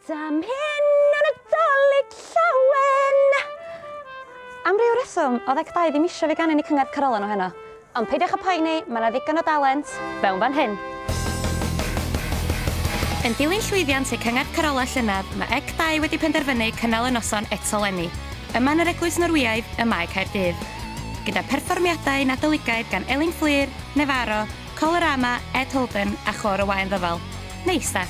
Dam hyn yn y dolyg llawen! Am ryw reswm, oedd Ec Dau ddim eisiau fi ganu yn y cyngerdd Carolan o heno. Ond peidiwch â poeni, mae yna ddigon o dalent fewn fan hyn! Yn dilyn llwyddiant eu cyngerdd Carolau llynedd, mae Ec Dau wedi penderfynu cynnal y noson eto 'leni, yma yn yr Eglwys Norwyaidd ym Mae Caerdydd. Gyda pherfformiadau Nadoligaidd gan Elin Fflur, Nefaro, Colorama, Ed Holden a Chôr y Waun Ddyfal. Neis de?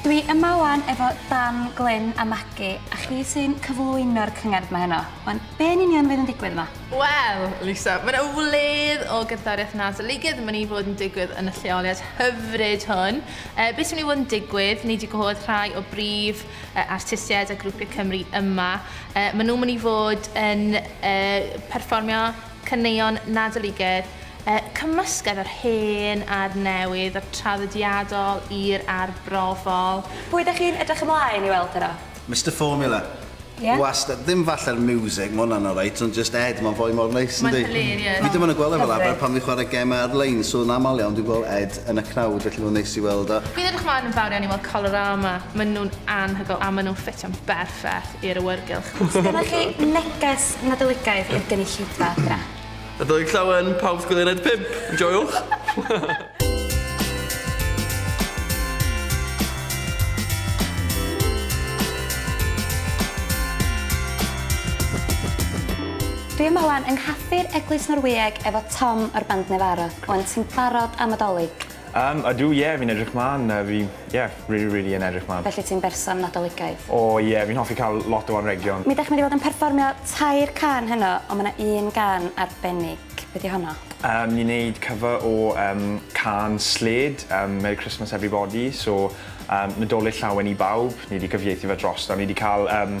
Dwi yma wan efo Dan, Glyn a Magi, a chi sy'n cyflwyno'r cyngerdd ma heno. Wan, be yn union fydd yn digwydd yma? Wel, Lisa, mae yna wledd o gerddoriaeth nadoligaidd yn mynd i fod yn digwydd yn y lleoliad hyfryd hwn. E, beth sy'n mynd i fod yn digwydd? Ni wedi gwahodd rhai o brif e, artistiaid a grwpiau Cymru yma. E, maen nhw'n mynd i fod yn e, perfformio caneuon nadoligedd, y cymysgedd o'r hen a'r newydd, o'r traddodiadol i'r arbrofol. Pwy ydych chi'n edrych ymlaen i weld heno? Mister Formula. Ie? Wastad. Ddim falle'r miwsig, ma' hwnna'n alright, ond jyst Ed, ma'n foi mor neis, yndi? Mae'n hilarious. Fi dim ond yn gweld e fel arfer pan fi'n chwarae gemau ar-lein, so yn aml iawn dwi'n gweld Ed yn y crowd, felly mae'n neis i weld o. Fi'n edrych mlaen yn fawr iawn i weld Colorama, maen nhw'n anhygoel a maen nhw'n ffitio'n berffaith i'r awyrgylch. Os gennych chi neges Nadoligaidd i'r gynulleidfa adra. Nadolig Llawen, pawb sgwileriaid pump, enjoiwch! Dwi yma wan yng nghaffi'r Eglwys Norwyeg efo Tom o'r band Nevarro, wan ti'n barod am Adolig? Yym ydw ie fi'n edrych mlan yy fi ie rili rili yn edrych mlan. Felly ti'n berson Nadoligaidd? O ie fi'n hoffi ca'l lot o anrhegion. Mi dach chi mynd i fod yn perfformio tair cân heno on' ma' 'na un gân arbennig, be' 'di honno? Yym ni'n neud cover o yym cân Slade yym Merry Christmas Everybody so yym Nadolig Llawen i Bawb, ni 'di cyfieithu fe drosto, ni 'di ca'l yym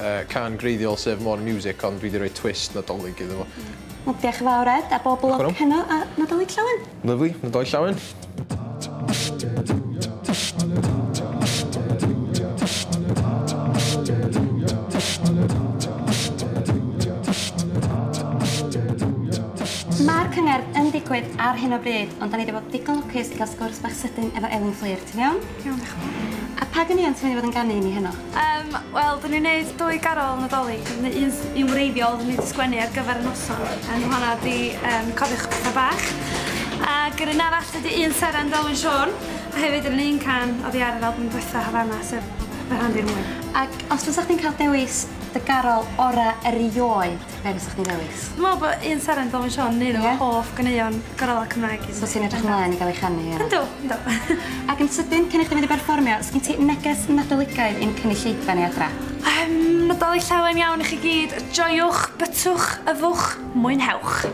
uh, can greiddiol sef More Music, ond dwi wedi rhoi twist nadolig iddo fo. Wel, diolch yn fawr Ed, a bob lwc heno a nadolig llawen. Lyfli, nadolig llawen. Mae'r cyngerdd yn digwydd ar hyn o bryd, ond da ni wedi bod digon lwcus i gael sgwrs bach sydyn efo Elin Fflur, ti'n iawn? Iawn, dioch yn fawr. A pa ganeuon ti myn i fod yn ganu i ni heno? Yym, wel, dyn ni'n neud dwy garol Nadolig, neu un s- un wreiddiol dyn ni 'di sgwennu ar gyfer y noson, yym ma' honna 'di yym cofiwch petha bach. Ag yr un arall ydi un seren Delwyn Siôn, a hefyd yr un un can oddi ar yr albwm dwetha Havana sef Fy Rhan Fi Rŵan. Ac os fysa chdi'n ca'l dewis dy garol ora erioed? Be' fysach chdi'n ddewis? Dwi me'wl bo' un seren Dylan Siôn yn un o fy hoff ganeuon gorau Cymraeg i. So ti'n edrych ymlaen i ga'l 'i chanu ia? Yndw yndw. Ac yn sydyn cyn i chdi mynd i berfformio sgin ti neges Nadoligaidd i'n cynulleidfa ni adra? Yym Nadolig Llawen iawn i chi gyd joiwch bytwch yfwch mwynhewch.